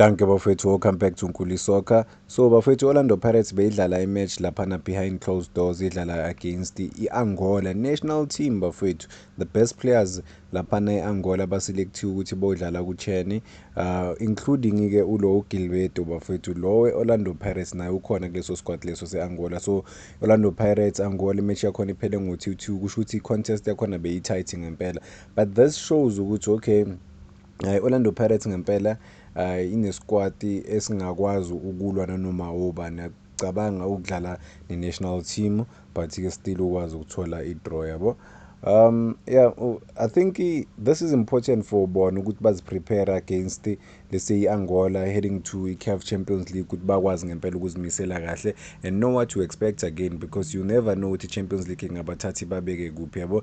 Dankie bafwethu welcome back to Nkuli Soccer. So bafwethu Orlando Pirates beyidlala i match laphana behind closed doors idlala against i Angola national team bafwethu. The best players laphana e Angola baselectiwe ukuthi bodlala ku Chene uh, including ke ulo Gilberto bafwethu lo we Orlando Pirates naye ukhona kuleso squad leso se Angola. So Orlando Pirates Angola match yakhona iphele ngo 2-2 kusho ukuthi i contest yakhona beyi tight ngempela. But this shows ukuthi okay Ay Orlando Pirates ngempela ay ineskwati esingakwazi ukulwa nanoma ubani akucabanga ukudlala ne national team but ke still ukwazi ukuthola i draw yabo um yeah i think this is important for bona ukuthi bazi prepare against let's say Angola heading to i CAF Champions League ukuthi bakwazi ngempela ukuzimisela kahle and know what to expect again because you never know ukuthi Champions League ingabathathi babeke kuphi yabo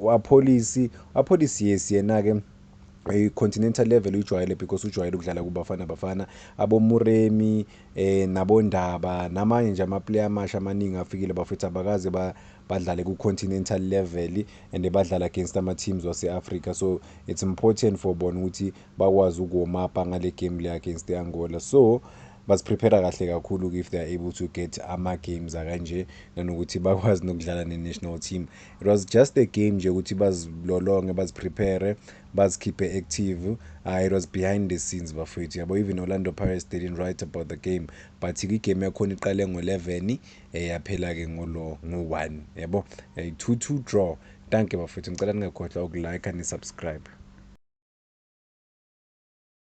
wapholisi wapholisi yes yena-ke i-continental eh, level uyijwayele because ujwayele ukudlala kubafana bafana abomuremi eh nabondaba namanye nje amaplayer amasha amaningi afikile bafethu abakaze ba badlale ku-continental level and badlala against ama-teams wase-africa so it's important for bona ukuthi bakwazi ukuwomapa ngale game le against i-angola so baziprepare kahle kakhulu if they are able to get ama-games akanje nanokuthi bakwazi nokudlala ne-national team it was just a game nje ukuthi bazilolonge baziprepare bazikhiphe active uh, it was behind the scenes bafowethu yabo even orlando pirates they didn't write about the game but igame yakhona iqale ngo-11 um eh, yaphela-ke ngolo ngo-1 yabo eh, two two draw thank you bafowethu ngicela ningakhohlwa ukulike nisubscribe